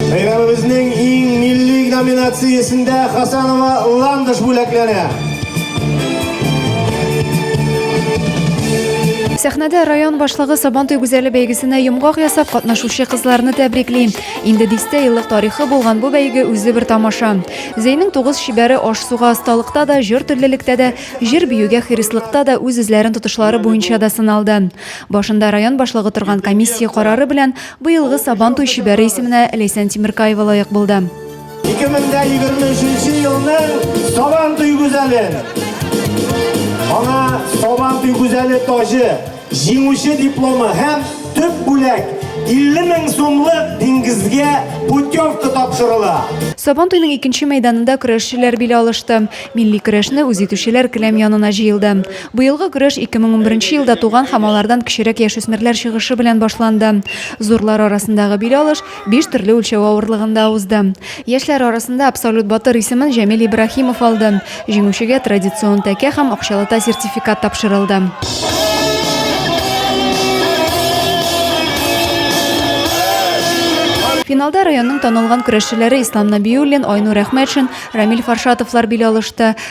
Бәйрәмебезнең иң милли номинациясендә Хасанова Ландыш бүләкләнә. Сәхнәдә район башлыгы Сабантуй гүзәле бәйгесенә йомгак ясап катнашучы кызларны тәбрикли. Инде дистә еллык тарихы булган бу бәйге үзе бер тамаша. Зәйнең тугыз чибәре аш-суга осталыкта да, җыр төрлелектә дә, җыр биюгә хирыслыкта да үз-үзләрен тотышлары буенча да сыналды. Башында район башлыгы торган комиссия карары белән Быелгы Сабан туй чибәре исеменә Ләйсән Тимеркаева лаек булды. 2023 елның Сабан туй гүзәле. Аңа Сабан туй гүзәле таҗы, җиңүче дипломы һәм төп бүләк 50 мең сумлык диңгезгә путевка тапшырыла. Сабан туйның икенче мәйданында көрәшчеләр бил алышты. Милли көрәшне үз итүчеләр келәм янына җыелды. Быелгы көрәш 2010 беренче елда туган һәм алардан кечерәк яшүсмерләр чыгышы белән башланды. Зурлар арасындагы бил алыш биш төрле үлчәү авырлыгында узды. Яшьләр арасында Абсолют батыр исемен Җәмил Ибраһимов алды. Җиңүчегә традицион тәкә һәм акчалата сертификат тапшырылды. Финалда районның танылган көрәшчеләре Ислам Набиуллин, Айнур Әхмәтшин, Рамил Фаршатовлар бил алышты.